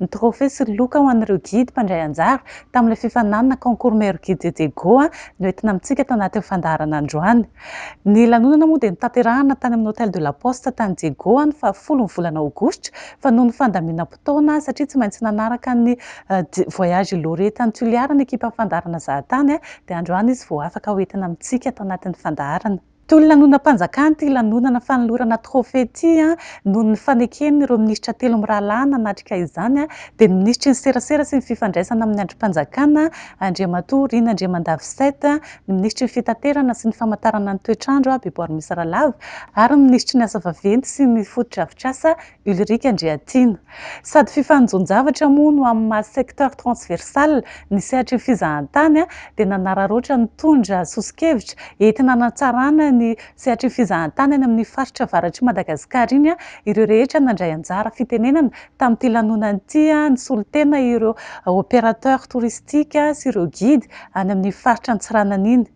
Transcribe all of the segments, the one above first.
ny trophée sy loka ho an'ireo guide mpandray anjara tamin'ilay fifaninanana concours meilleur guide de Diego noentina amintsika tao anatin'ny fandaharana androany. Ny lanonana moa dia notanterahina tany amin'ny Hôtel de la Poste tany Diego ny fahafolo ny volana aogositra fa noho ny fandaminam-potoana satria tsy maintsy nanaraka ny voyage Ilore tany Toliara ny ekipan'ny fandaharana Zahatany dia androany izy vao afaka hoentina amintsika tao anatin'ny fandaharana. Toy ny lanonam-panjakana ity lanonana fanolorana trophée ity noho ny faneken'ireo minisitra telo mirahalahy nanatrika izany dia ny minisitry ny serasera sy ny fifandraisana amin'ny andrim-panjakana Andriamatoa Rina Andriamandavisaita, ny minisitry ny fitaterana sy ny famantarana ny toetr'andro Beboarimisa Ralava ary ny minisitry ny asa vaventy sy ny fotodrafitrasa Ulrika Andriatiana. Sady fifanonjon-javatra moa no amin'ny maha secteur transversal ny sehatry ny fizahantany dia nanararaotra nitondra soso-kevitra entina hanatsarana ny sehatry ny fizahantany any amin'iny faritra avaratr'i Madagasikara iny ireo rehetra nandray anjara fitenenana tamin'ity lanonana ity nisolo tena ireo opérateurs touristiques sy ireo guides any amin'ny faritra Antsiranana iny.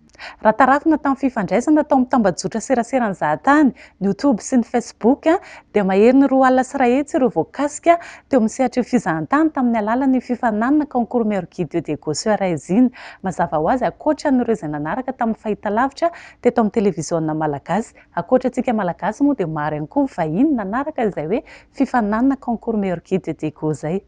Raha tarafina tamin'ny fifandraisana tao amin'ny tambajotra seraseran'ny zahatany, ny Youtube sy ny Facebook, dia maherin'ny roa alina sy iray hetsy ireo voakasika teo amin'ny sehatra io fizahantany tamin'ny alalan'ny fifaninanana Concours Meilleur Guide de Go sur Aise iny. Mazava ho azy, ankoatra an'ireo izay nanaraka tamin'ny fahitalavitra teto amin'ny televiziona malagasy, ankoatra antsika malagasy moa dia maro ihany koa ny vahiny nanaraka izay hoe fifaninanana concours meilleur guide de Diego izay.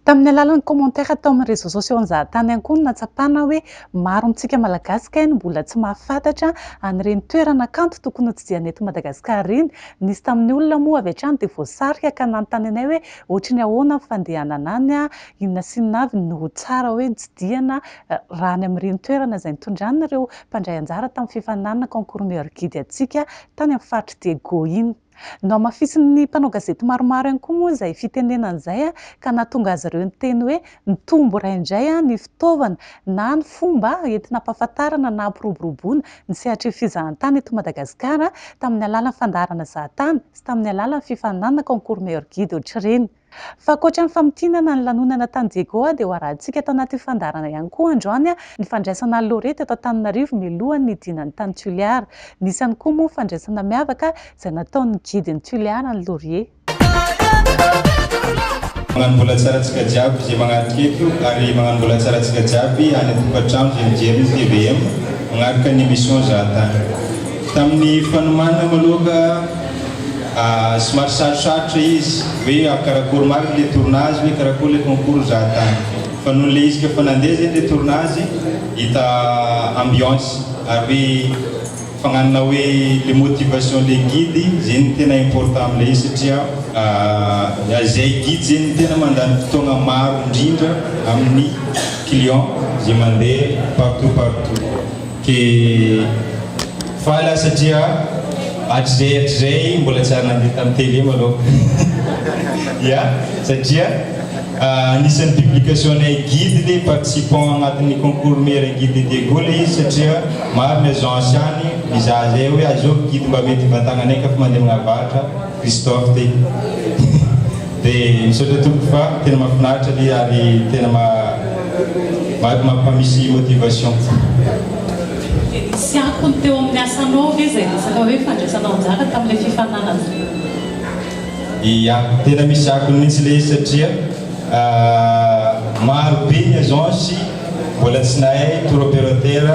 Tamin'ny alalan'ny commentaire tao amin'ny réseaux sociaux an-jahatany ihany koa no nahatsapana hoe maro amintsika Malagasy kay no mbola tsy mahafantatra an'ireny toerana kanto tokony hotsidihana eto Madagasikara ireny. Nisy tamin'ny olona moa avy hatrany dia voasarika ka nanontany anay hoe ohatry ny ahoana ny fandehanana any, inona sy inona avy no tsara hoe notsidihana raha any amin'ireny toerana izay nitondran'ireo mpandray anjara tamin'ny fifaninanana concours meilleur guide antsika tany amin'ny faritr'i Diego iny. Nohamafisin'ny mpanao gazety maromaro ihany koa moa izay fitenenana izay ka nahatonga azy ireo niteny hoe mitombo iray indray ny fitaovana na ny fomba entina ampahafantarana na ampiroboroboana ny sehatry fizahantany eto Madagasikara tamin'ny alalan'ny fandaharana zahatany sy tamin'ny alalan'ny fifaninanana Concours Meilleur Guide ohatr'ireny. Fa ankoatra ny famintinana ny lanonana tany Diégoa dia ho arahintsika tao anatin'ny fandaharana ihany koa androany ny fandraisana an'i Laure teto Antananarivo mialohan'ny hidinany tany Tulear. Nisy ihany koa moa fandraisana miavaka izay nataon'ny gidin'i Tulear an'i Laurier. Magnano vola tsara antsika jiaby ze magnaraka eto ary magnano vola tsara antsika jiaby any an-tokantrano ze mijery ny tvm magnaraka ny emission zahatany. Tamin'ny fanomana maloha ka. Somary sarosarotra izy hoe karakory marina ilay tournazy hoe karakory ilay concours mizaha tany fa noho ilay izy efa nandeha zegny ilay tournazy hita ambiance ary hoe fagnanana hoe le motivation le guide zegny tena important amin'ilay izy satria izay guide zegny tena mandany fotoagna maro indrindra amin'ny client izay mandeha partout partout. Dia faly aho satria hatrizay hatrizay mbola tsy ary nandeha tamin'ny télé manokana. Ya, satria anisan'ny publication-nay guide ilay participant anatin'ny concours meilleur guide de Daegu ilay izy satria maro ny agence any mizaha izay hoe aiza ao guide mba mety hivantagnanay ka fa mandeha amina varatra, Christophe ty. Dia misaotra tompoko fa tena mafinaritra le ary tena ma mampamisy motivation koa. Nisy akony teo amin'ny asanao ve izay resaka hoe fandraisanao anjara tamin'ilay fifaninanana? Ia, tena misy akony mihitsy ilay izy satria maro be ny agence mbola tsy nahay tour operateur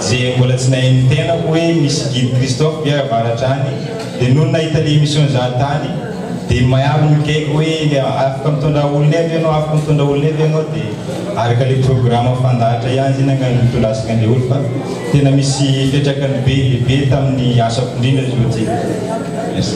dia mbola tsy nahay ny tenako hoe misy guide Christophe ve avaratra any Dia nony nahita le emission za tany dia maiaro ny gag hoe afaka mitondra olona eo ve ianao afaka mitondra olona eo ve ianao dia araka le programme fandahatra ihany zany angah no nitondasika anle olo fa tena misy fiatraikany be dia be taminy asako indrindra izy ohatsy e. Merci.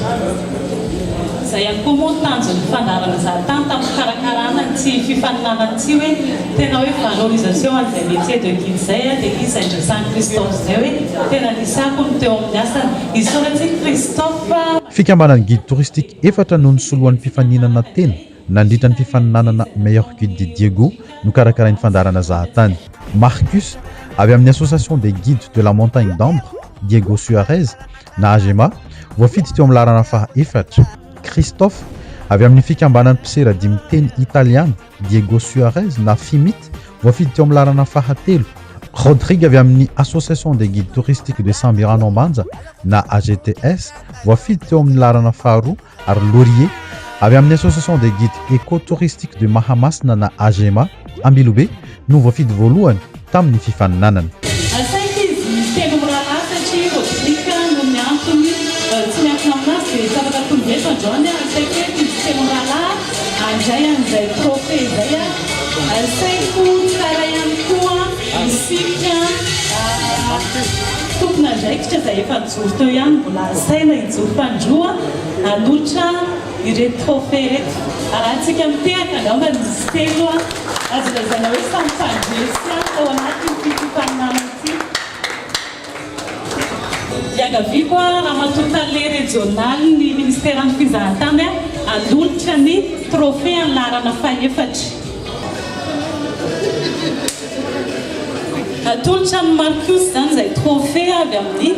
Izay ihany koa moa ny tanjon'ny fandaharana za tany tamin'ny fikarakarana an'ity fifaninanana ity hoe tena hoe valorisation an'izay métier de guide izay dia izy izay niresahan'i Christophe izay hoe tena nisy akony teo amin'ny asany. Isaorana i Christophe. Fikambanan'ny Guide Touristique efatra no nisolo an'ny fifaninana tena nandritra ny fifaninanana Meilleur Guide de Diego nokarakarain'ny fandaharana Zahatany. Marcus, avy amin'ny Association des Guides de la Montagne d'Ambre, Diego Suarez, na Agema, voafidy teo amin'ny laharana faha efatra, Christophe, avy amin'ny fikambanan'ny mpisera dimy teny italiana, Diego Suarez na Fimit, voafidy teo amin'ny laharana fahatelo, Rodrigue avy amin'ny Association des Guides Touristiques de Sambirano Ambanja na AGTS, voafidy teo amin'ny laharana faharoa, ary Lorie, avy amin'ny Association des Guides Eco-Touristiques de Mahamasina na AGEMA, Ambilobe, no voafidy voalohany. tamin'ny fifaninanana. Asaiky izy telo mirahalahy satria Rodrick noho ny antony tsy miankina aminazy dia tsy afaka tonga eto androany aho. Asaiky eto izy telo mirahalahy handray an'izay trophée izay aho. Asaiko tsara ihany koa isika tompon'andraikitra izay efa nijoro teo ihany mbola asaina hijoro tandroa hanolotra. Ireto trophées ireto, arahintsika mitehaka angamba ny izy telo an! Azo lazaina hoe samy mpandresy ahy tao anatin'ity fifaninanana ity. Iangaviako an, Ramatoa Tale Rejionalin'ny Ministeran'ny Fizahantany an, hanolotra ny trophée an'ny laharana fahefatra. Atolotra an'i Marcus izany izay trophée avy amin'ny.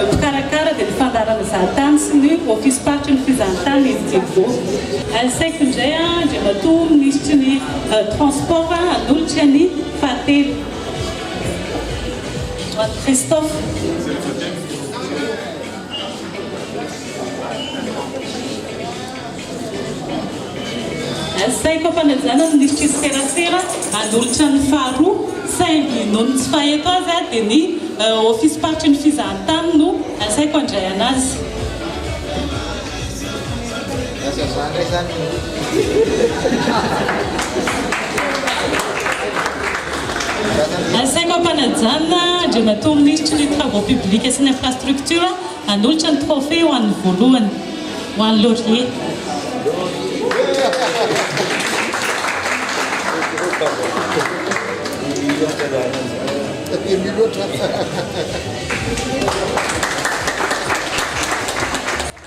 Mpikarakara dia ny fandaharana zahantany sy ny ofisim-paritry ny fizahantany eny Divo. Asaiko indray Andriamatoa Minisitry ny Transport hanolotra ny fahatelo. Ho an'i Christophe. Asaiko am-panajana ny lisitry ny serasera hanolotra ny faharoa, saingy noho ny tsy fahaeto azy aho dia ny ofisim-paritry ny fizahantany no asaiko handray an'azy. Asaiko am-panajana, Andriamatoa Minisitry ny Travaux Publics sy ny Infrastructures, Hanolotra ny trophée ho an'ny voalohany, ho an'i Laurier.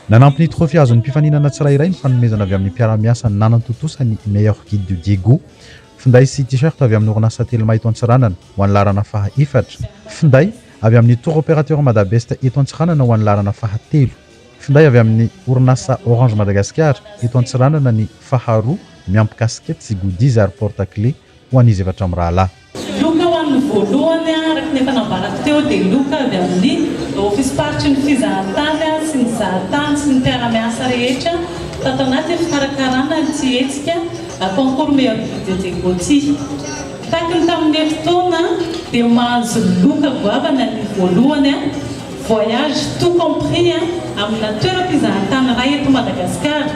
Nanampy ny trophée azon'ny mpifaninana tsirairay ny fanomezana avy amin'ny mpiara-miasa nanantontosa ny Meilleur Guide du Diego, finday sy T-shirt avy amin'ny orinasa Telma eto Antsiranana, ho an'ny laharana faha efatra. Finday, avy amin'ny Tour Opérateur Madabest eto Antsiranana ho an'ny laharana fahatelo. Finday avy amin'ny orinasa Orange Madagascar eto Antsiranana ny faharoa miampy casquettes sy goodies ary porte clé ho an'izy efatra mirahalahy. Loka ho an'ny voalohany araka ny efa nambarako teo dia loka avy amin'ny Ofism-paritry ny Fizahantany sy ny Zahatany sy ny mpiara-miasa rehetra tato anatin'ny fikarakarana ity hetsika Concours Meilleur Guide Dieudonne Gauthier. Tahaka ny tamin'ny herintaona dia mahazo loka goavana ny voalohany voyage tout compris amina toeram-pizahantany iray eto Madagasikara.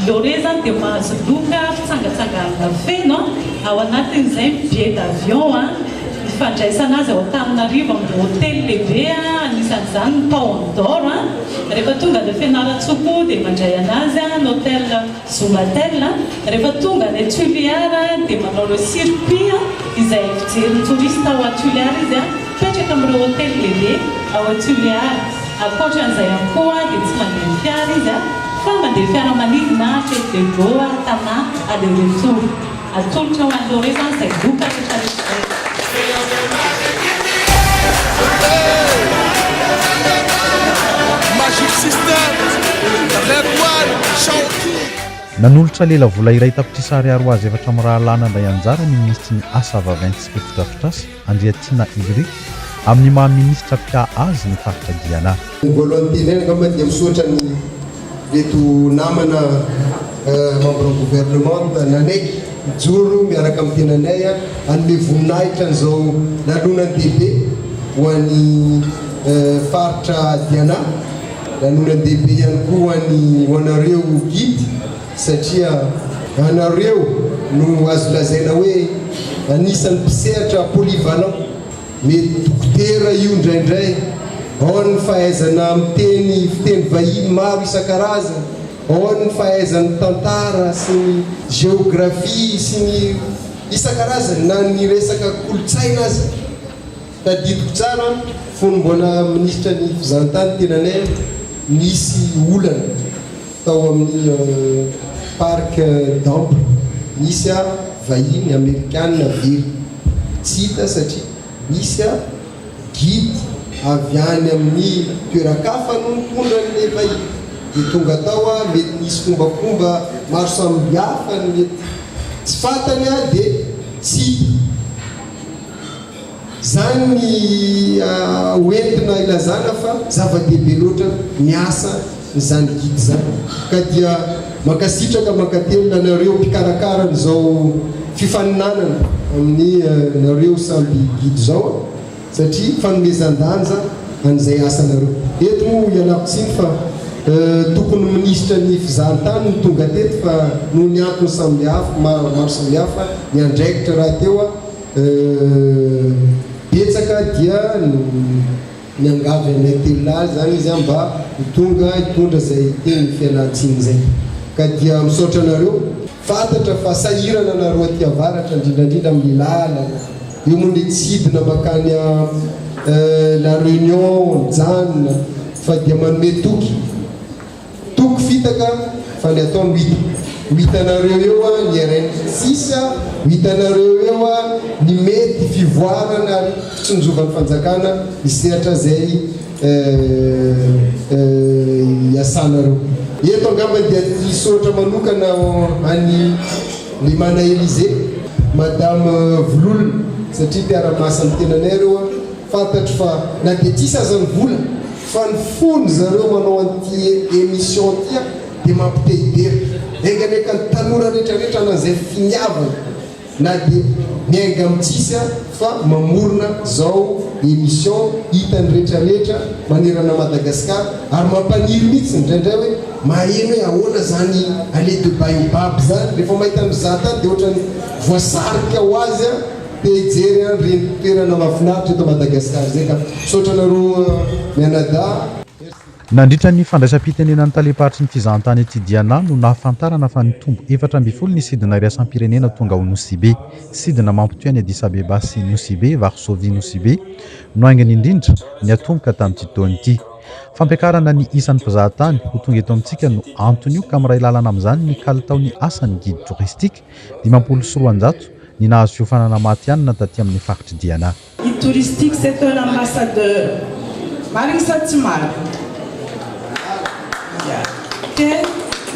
Lloret izany dia mahazo loka fitsangatsanganana feno ao anatin'izay ny billet d'avion, ny fandraisana azy ao Antananarivo amin'ny hotely lehibe anisan'izany ny Paon d'Or. Rehefa tonga any Fianarantsoa koa dia mandray anazy ny hotely. Zumbatel, rehefa tonga any Tuliar dia manao le circuit izay fijery ny touriste ao à Tuliar izy a, mipetraka amin'ireo hotely lehibe ao à Tuliar, ankoatran'izay ihany koa dia tsy mandeha fiara izy a, fa mandeha fiaramanidina, fête de Goa, Tana, aller retour. Atolotra ho an'ireo izany izay vokatra efa registrena. Nanolotra lela vola iray tapitrisa ariary ho azy efatra mirahalahy nandray anjara ny minisitry ny Asa vavent sy fotodrafitrasa, Andriatiana Ulrich, amin'ny maha minisitra mpiaha azy ny faritra Guyana. Ny voalohan'ny teneniny angamba dia misaotra ny ireto namana membre gouvernement nanaiky hijoro miaraka amin'ny tenanay hanome voninahitra an'izao lanonany dehibe ho an'ny faritra Diana, lanonany dehibe ihany koa ho an'ny ho anareo guide. satria ianareo no azo lazaina hoe anisan'ny mpisehatra polyvalent, mety dokotera io indraindray, ao ny fahaizana miteny fiteny vahiny maro isan-karazany, ao ny fahaizany tantara sy ny géographie sy ny isan-karazany na ny resaka kolontsaina aza. Tadidiko tsara fony mbola minisitra ny fizahantany tena nay nisy olana tao amin'ny parc damp nisy a vahiny amerikanina very tsy hita satria nisy a guide avy any amin'ny toeran-kafa no nitondra an'ilay vahiny dia tonga tao a mety nisy fombakomba maro samibiafa ny mety tsy fantany a dia tsy hita Izany ny ho entina ilazana fa zava-dehibe loatra ny asa n'izany Guide izany. Ka dia mankasitraka mankatelina anareo mpikarakara an'izao fifaninanana amin'ny nareo samby Guide izao a! satria fanomezan-danja an'izay asanareo. Eto moa ialako tsiny fa tokony minisitra ny fizahan-tany no tonga teto fa noho ny antony samby hafa maro samihafa niandraikitra rahateo aho, Euh, betsaka dia no miangavy anay telo lahy zany izy mba ho tonga hitondra zay teny ny fialantsiny zay ka dia misaotra anareo. Fantatra fa sahirana nareo aty avaratra indrindrandrindra amin'ny lalana eo moa le tsy hidina makany a euh la reunion mijanona fa dia manome toky. Toko fitaka fa ny atao no hita. Ho hitanareo eo an ny RN sisa, ho hitanareo eo an ny mety fivoarana ary fitsinjovan'ny fanjakana ny sehatra izay iasanareo. Eto angamba dia ny misaotra manokana an'i Lemana Elysée, Madame Vololona satria mpiara-miasa amin'ny tenanay ireo an, fantatro fa na dia tsy hisy aza ny vola, Fa ny fony zareo manao an'ity emission ity an dia mampitehibera. Enga anie ka ny tanora rehetra rehetra na izay finiavana na dia miainga amin'ny tsisy an fa mamorona izao emission hitan'ny rehetra rehetra manerana Madagascar ary mampaniry mihitsy indraindray hoe maheno hoe ahoana izany allez de baobab izany rehefa mahita mizata dia ohatran'ny voasarika ho azy an Te hijery an reny toerana mafinaritra eto Madagascar izay ka. Misaotra anareo mianadahy. Nandritra ny fandraisam-pitenenan'ny talem-paritry ny fizahantany ety Diana no nahafantarana fa nitombo efatra ambin'ny folo ny sidina iraisam-pirenena tonga ao Nosibe. Sidina mampitohy an'i Addis Abeba sy Nosibe, Varsovie, Nosibe, no haingana indrindra, niatomboka tamin'ity taona ity. Fampiakarana ny isan'ny mpizahatany ho tonga eto amintsika no anton'io ka miray lalana amin'izany ny kalitaon'ny asan'ny guide touristique, dimampolo sy roanjato, ny nahazo fiofanana maty ihany na taty amin'ny faritr'i Diana. Guide touristique c'est un ambassadeur marigny sa tsy marigny? Ke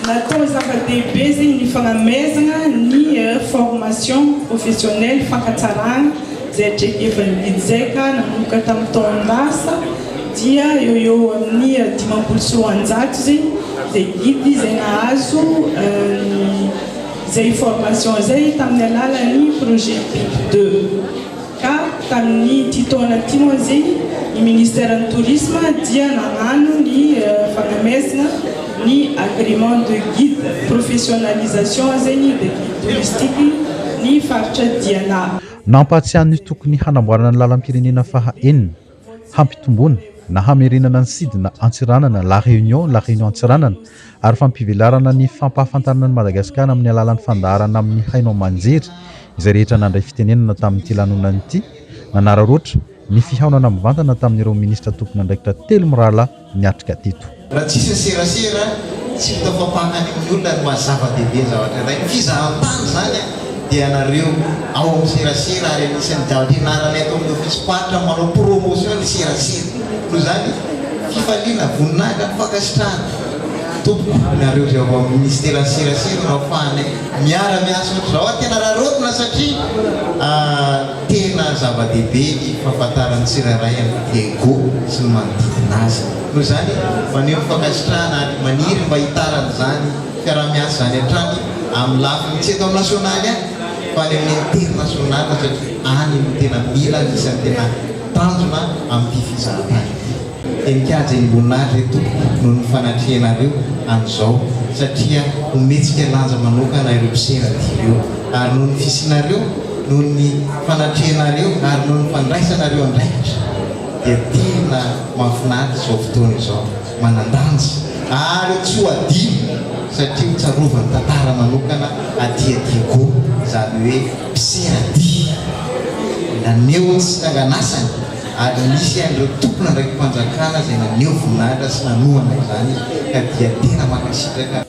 natao zava-dehibe zegny ny fagnamezagna ny formation professionnelle fankatsaragna zay atrehevan'ny guide zay ka nanomboka tamin'ny taon-dasa dia eo eo amin'ny dimampolo sy roanjato zegny zay guide zay nahazo ny izay information izay tamin'ny alalan'ny projet Pic deux ka tamin'ity taona ity moa izy ny ministère ny tourisme dia nagnano ny fanomezana ny agrément de guide professionnalisation izay ny de guide touristique ny faritra Diana. Nampahatsiahy ny tokony hanamboarana ny lalam-pirenena faha enina hampitomboana na hamerenana ny sidina Antsiranana, La Réunion, La Réunion Antsiranana, ary fampivelarana ny fampahafantarana an'i Madagasikara amin'ny alalan'ny fandaharana amin'ny haino aman-jery izay rehetra nandray fitenenana tamin'ity lanonana ity nanararaotra ny fihaonana mivantana tamin'ireo minisitra tompon'andraikitra telo mirahalahy niatrika teto. Raha tsy hisy ny serasera, tsy hita fampahangan'ny olona ny maha-zava-dehibe ny zavatra iray. Ny fizahan-tany izany dia ianareo ao amin'ny serasera ary anisan'ny daham-pianarana eto amin'ny ofisim-paritra ny manao promotion ny serasera. Noho izany, fifaliana, voninahitra, fankasitrahana tompoko ianareo izay ao amin'ny minisiteran'ny serasera no ahafahanay miara-miasa ohatr'izao. Tena raraotina satria. Tena zava-dehibe ny fahafantaran'ny tsirairay an'i Diego sy ny manodidina azy. Noho izany, maneho fankasitrahana ary maniry mba hitarana izany fiaraha-miasa izany hatrany amin'ny lafiny tsy eto amin'ny nasionaly ihany fa any amin'ny internasionaly satria any no tena mila ny isan'ny tena tanjona amin'ity fizahantany ity. Dia mikajy eny Mboninahitra eny tompoko noho ny fanatrehanareo an'izao satria hometsika lanja manokana ireo mpisera dia ireo ary noho ny fisianareo noho ny fanatrehanareo ary noho ny fandraisanareo andraikitra dia tena mahafinaritra izao fotoana izao manandanja ary tsy ho adino satria ho tsarovany tantara manokana aty Diego izany hoe mpisera dia naneho tsy nanganasany ary nisy an'ireo tompon'andraiki-panjakana izay naneho voninahitra sy nanohana izany ka dia tena mankasitraka.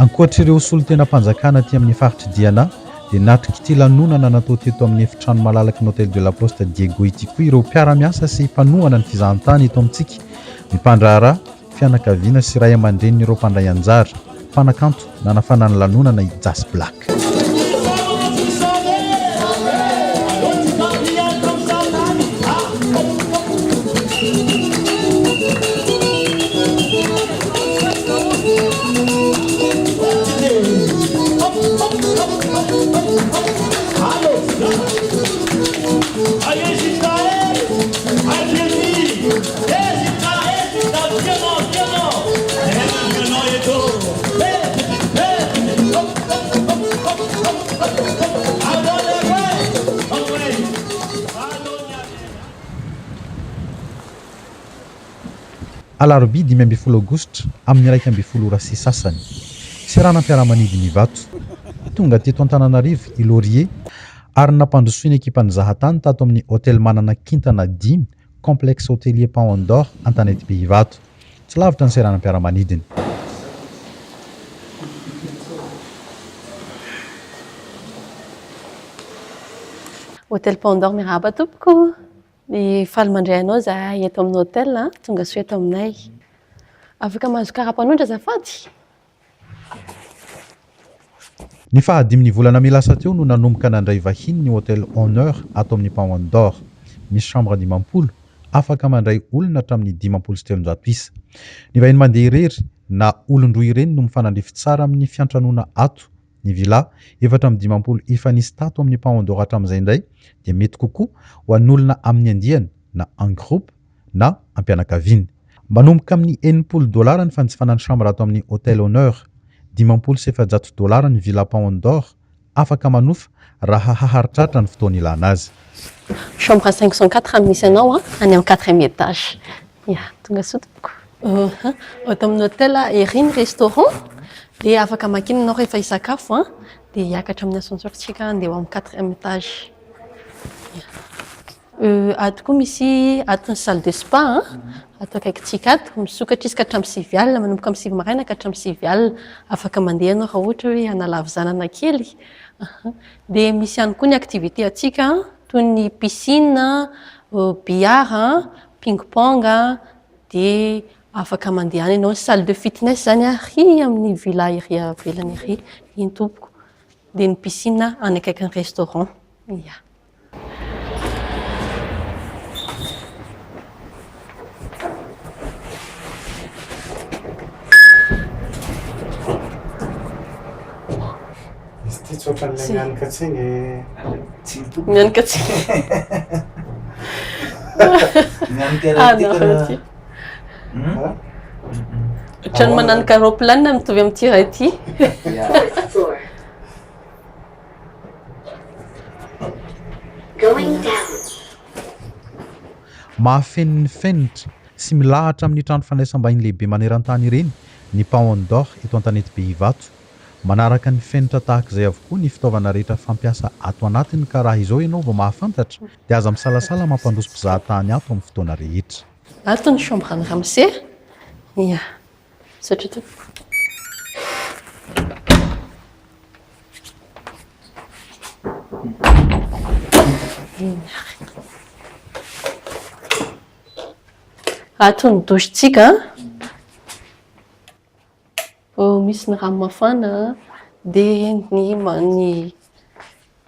Ankoatr'ireo solontenam-panjakana aty amin'ny faritr'i Diana dia natrik'ity lanonana natao teto amin'ny efitrano malalaky ny Hotel de la Poste Diego ity koa ireo mpiara-miasa sy mpanohana ny fizahantany eto amintsika, ny mpandraharaha, Fianakaviana sy ray aman-drenin'ireo mpandray anjara, mpanakanto, nanafana ny lanonana i Jas Black. Alarobia dimy ambin'ny folo aogositra amin'ny iraika ambin'ny folo ora sy sasany. Seranam-piaramanidin' ny Ivato. Tonga teto Antananarivo i Laurier ary nampandrosoin'ny ekipan'ny Zahatany tato amin'ny Hotel Manana kintana dimy Complexe Hotelier Paon d'Or Antanetibe Ivato. Tsy lavitra ny seranam-piaramanidiny. Hotely Paon d'Or Mirahaba tompoko. Faly mandray anao izahay eto amin'ny hotely. Tongasoa eto aminay. Afaka mahazo kara-panondro azafady? Ny faha dimy ny volana may lasa teo no nanomboka nandray vahiny ny Hotel Honneur ato amin'ny Paon d'Or. Misy chambre dimampolo, afaka mandray olona hatramin'ny dimampolo sy telonjato isa. Ny vahiny mandeha irery na olon-droa ireny no mifanandrify tsara amin'ny fiantranoana ato. Ny villa, efatra amby dimampolo efa nisy tato amin'ny Paon d'Or hatramin'izay indray dia mety kokoa ho an'olona amin'ny andiany na en groupe, na am-pianakaviana. Manomboka amin'ny enimpolo dolara ny fanjifana ny chambre ato amin'ny Hotel Honneur. Dimampolo sy efajato dolara ny Villa Paon d'Or. Afaka manofa raha haharitraritra ny fotoana ilana azy. Chambre cinq cent quatre raha misy anao an, any amin'ny quatrième étage. Ya, tonga soa tompoko. Oha, ato amin'ny hotel ery ny restaurant dia afaka makina ianao rehefa hisakafo an, dia hiakatra amin'ny ascenseur tsika handeha ho amin'ny quatrième étage. Ya. Ato koa misy ato ny salle de spa an, ato akaikintsika ato. Misokatra izy ka hatramin'ny sivy alina, manomboka amin'ny sivy maraina ka hatramin'ny sivy alina. Afaka mandeha ianao raha ohatra hoe hanala havizanana kely. Dia misy ihany koa ny activités antsika toy ny piscine, billard, ping pong, dia afaka mandeha any ianao. Ny salle de fitness izany ary amin'ny villa ery ivelany ery, iny tompoko. Dia ny piscine any akaikin'ny restaurant. Ia. Otrany mananoka roplanina mitovy amin'ity raha ity. Going down. Mahafeno ny fenitra sy milahatra amin'ny trano fandraisam-bahiny lehibe maneran-tany ireny ny Paon d'Or eto Antanetibe Ivato. Manaraka ny fenitra tahaka izay avokoa ny fitaovana rehetra fampiasa ato anatiny ka raha izao ianao vao mahafantatra dia aza misalasala mampandroso mpizahatany ato amin'ny fotoana rehetra. Ato ny chambre an'i Ramose, ia. Misaotra Ato ny douche-tsika. Misy ny rano mafana dia ny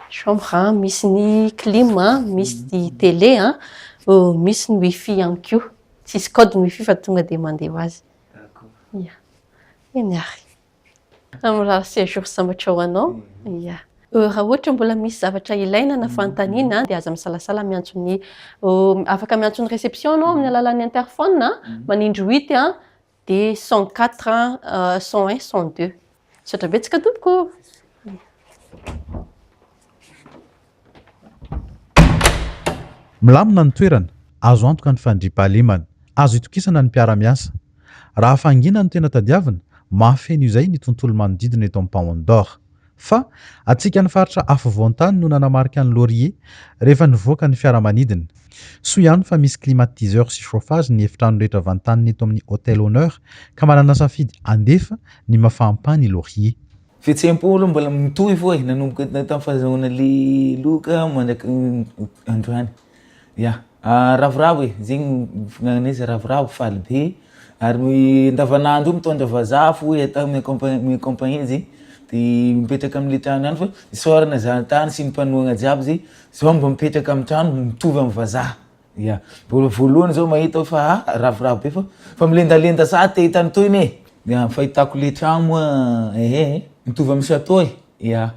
Chambre a, misy ny clim a, misy ny télé a, misy ny wifi ihany koa. Tsisy code ny wifi fa tonga dia mandeha ho azy. D'accord. Ya. Eny ary. Amin'ny raha séjour sambatra ho anao. Ya. Raha ohatra mbola misy zavatra ilaina na fanontaniana dia aza misalasala miantso ny afaka miantso ny réception anao amin'ny alalan'ny interphone a, manindry huit a. Dia cent quatre, cent un, cent deux. Misaotra betsaka tompoko ô! Milamina ny toerana, azo antoka ny fandriampahalemana, azo itokisana ny mpiara-miasa. Raha fahangina no tena tadiavina, mahafeno izay ny tontolo manodidina eto Ampaondor. Fa antsika ny faritra afovoan-tany no nanamarika ny Laurier rehefa nivoaka ny fiaramanidina. Soa ihany fa misy climatiseur sy chauffage ny efitrano rehetra vantanina eto amin'ny Hotel Honneur ka manana safidy handefa ny mafampàny i Laurier. Fihetseham-po aloha mbola mitohy foa e, nanomboka tamin'ny fahazahoana lehiloka mandrak'androany. Ya, ravoravo e, zegny fihinananay zay ravoravo faly be, ary andavanandro io mitondra vazaha fo hoe atao mi-accompagner mi-accompagner zegny, de mipetraka amle trano ihany fa isaorana zany tany sy ny mpanohana jiaby zay zao mba mipetraka amin'ny trano mitovy amin'ny vazaha, ya, mbola voalohany zao mahita aho fa ha ravoravo be fa fa milendalenda sa te hita ny tohiny e! ya, ny fahitako le tragno moa ehe mitovy amin'ny chateau e, ya.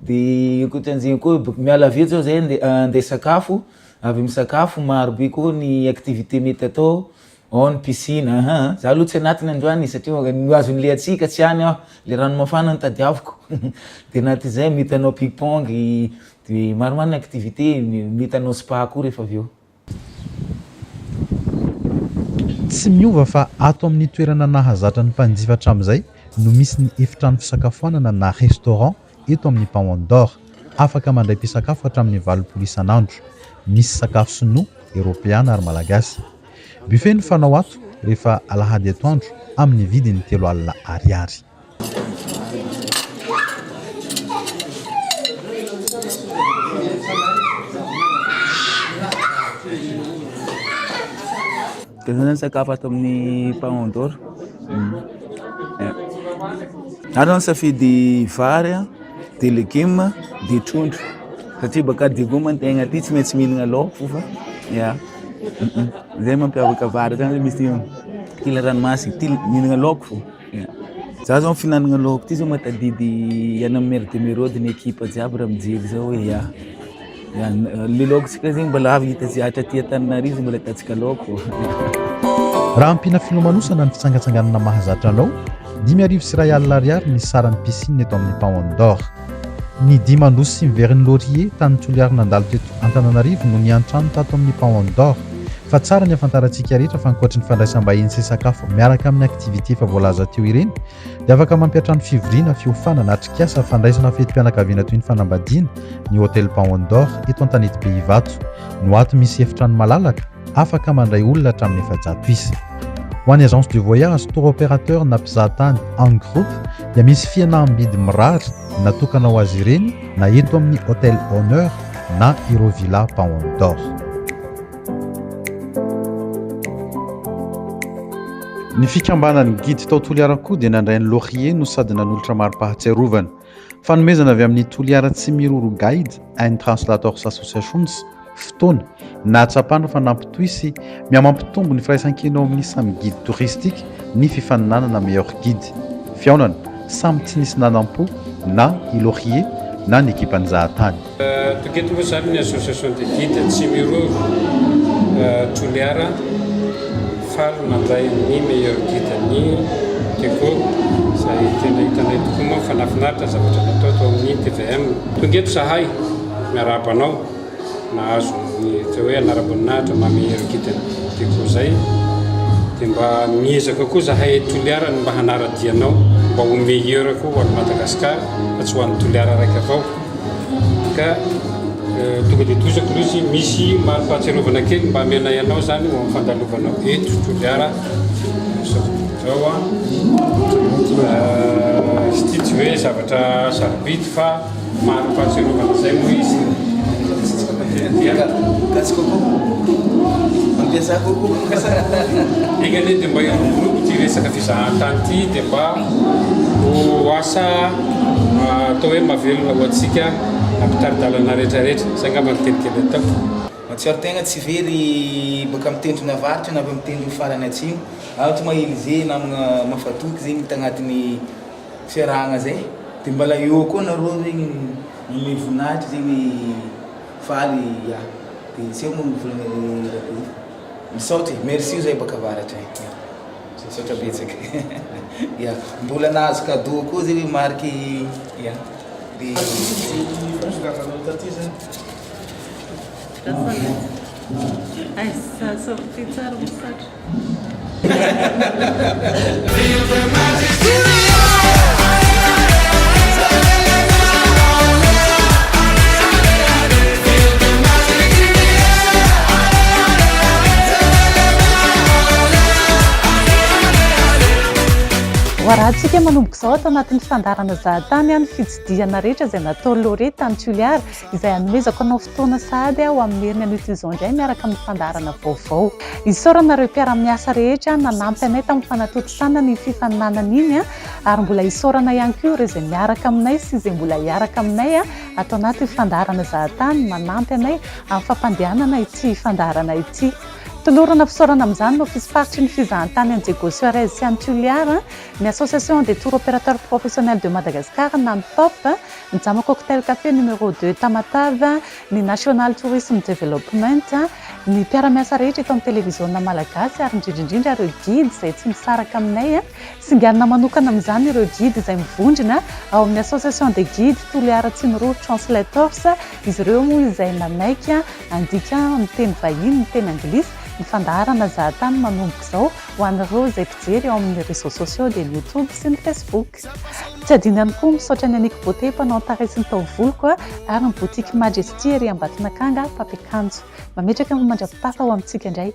Dia io koa tianjiny koa boka miala avy eo zao zay nde nde sakafo avy misakafo maro be koa ny activité mety atao ao ny piscine ahaa za aloha tsy anatiny androany e satria maka ny azon'ny lehatsika tsy any aho le rano mafana no tadiaviko de na ty zay mety hanao ping pong de maromaro ny activité mety hanao spa koa rehefa avy eo Tsy miova fa ato amin'ny toerana nahazatra ny mpanjifa hatramin'izay no misy ny efitrano fisakafoanana na restaurant eto amin'ny Paon d'Or. Afaka mandray mpisakafo hatramin'ny valopolo isan'andro. Misy sakafo sinoa, eropeana ary malagasy. Buffet no fanao ato rehefa alahady atoandro amin'ny vidiny telo alina ariary. Dia izao izany sakafo ato amin'ny Paon d'Or. Ary ny safidy vary, dia legioma, dia trondro. Satria baka Degoma ny tegna aty tsy maintsy mihinagna laoko fa ya. Zay mampiavaka vary zany misy kila ranomasy, kila mihinagna laoko fô. Za zao fihinanagna laoko ty zao mahatadidy any am mer de merode ny ekipa jiaby raha mijery zao hoe ya ya le laokontsika zegny mbola avy hita tsy zatra aty antananarivo mbola ataontsika laoko Raha ampiana filomanosana ny fitsangatsanganana mahazatra anao, dimy arivo sy iray alina ariary ny saran'ny piscine eto amin'ny Paon d'Or. Ny dimy andosy sy ny verin'ny laurier tanin'i Toliary nandalo teto Antananarivo no niantrano tato amin'ny Pound d'Or. Fa tsara ny ahafantarantsika rehetra fa ankoatry ny fandraisam-bahiny sy sakafo miaraka amin'ny activités efa voalaza teo ireny dia afaka mampiantrano fivoriana, fiofanana, atrikasa, fandraisana fetim-pianakaviana toy ny fanambadiana ny Hotel Pound d'Or eto Antanetibe Ivato no ato misy efitrano malalaka, afaka mandray olona hatramin'ny efajato isa. Ho an'ny agence de voyage, tour opérateur na mpizahatany en groupe dia misy fihenaham-bidy mirary natokana ho azy ireny na eto amin'ny Hotel Honneur na ireo Villa Paon d'Or. Ny fikambanan'ny Guide tao Toliara koa dia nandray ny Laurier no sady nanolotra mari-pahatsiarovana. Fanomezana avy amin'ny Toliara Tsimiroro Guide and Translators Associations fotoana nahatsapana fa nampitohy sy mihamampitombo ny firaisankina eo amin'ny samy guide touristique ny fifaninanana Meilleur Guide. Fihaonana samy tsy nisy nanampo na i Laurier na ny ekipan'i Zahatany. Tokony eto moa izany ny association des guides Tsimiroro Toliara faly mandray ny meilleur guide ny Teko izay tena hitanay tokoa moa fa nafinaritra ny zavatra natao tao amin'ny TVM. Tonga eto zahay miarahaba anao nahazo ny atao hoe anaram-boninahitra maha meilleur guide ny Teko izay dia mba miezaka koa zahay eto Toliara ny mba hanara-dia anao mba ho meilleur koa ho an'i Madagasikara fa tsy ho an'i Toliara raika avao. Ka tonga dia tohizo atory izy, misy mari-pahatsiarovana kely mba amenay anao izany ho amin'ny fandalovanao eto Toliara izao izao an! izy ity tsy hoe zavatra sarobidy fa mari-pahatsiarovana izay moa izy Enga anie dia mba hiroborobo ity resaka fizahantany ity dia mba Ho asa atao hoe mahavelona ho antsika mpitari-dalana rehetrarehetra. Izay angamba ny teny kely ataoko. Mahatsiaro tegna tsy very baka amin'ny tendrony avaratra na avy amin'ny tendrony farany atsimo, ato ma Elysée namagna mafatoky zegny tagnatin'ny fiarahagna zay de mbala eo koa nareo zegny manome voninahitra zegny faly ya de tsy eo moa ny vola Rabe. Misaotra e, merci oza baka avaratra e. Misaotra betsaka ya. Mbola nahazo cadeau koa zay hoe marque ya. Voararantsika manomboka izao ato anatin'ny fandaharana Zahatany ny fitsidihana rehetra izay nataon'i Laure tany Toliara izay hanomezako anao fotoana sahady ho amin'ny heriny anio izao indray miaraka amin'ny fandaharana vaovao. Isaorana ireo mpiara-miasa rehetra nanampy anay tamin'ny fanatontosana ny fifaninanana iny ary mbola isaorana ihany koa ireo izay miaraka aminay sy izay mbola hiaraka aminay Ato anaty fandaharana Zahatany manampy anay amin'ny fampandehanana ity fandaharana ity. Tolorana fisaorana amin'izany ny Ofisym-paritry ny Fizahantany any Diego Suarez sy any Tulliar, ny Association des Tour Opérateurs Professionnels de Madagascar na ny TOPP, ny Jama Cocktail Café Numéro Deux Tamatave, ny National Tourism Development, ny mpiara-miasa rehetra eto amin'ny Televiziona Malagasy ary indrindra indrindra ireo Guides izay tsy misaraka aminay. Singanina manokana amin'izany ireo Guide izay mivondrona ao amin'ny Association des Guides Toliara Tsinoroha Translators, izy ireo moa izay manaiky handika amin'ny teny vahiny ny teny anglisy, ny fandaharana zahatany manomboka izao ho an'ireo izay mpijery ao amin'ny réseaux sociaux dia ny YouTube sy ny Facebook. Tsy adino ihany koa ny misaotra an'i Annick Beauté mpanao an-tarehy sy ny taovoloko ary ny boutique Majesty ery Ambatonakanga mpampiakanjo. Mametraka ny mandra-pitafa ho amintsika indray.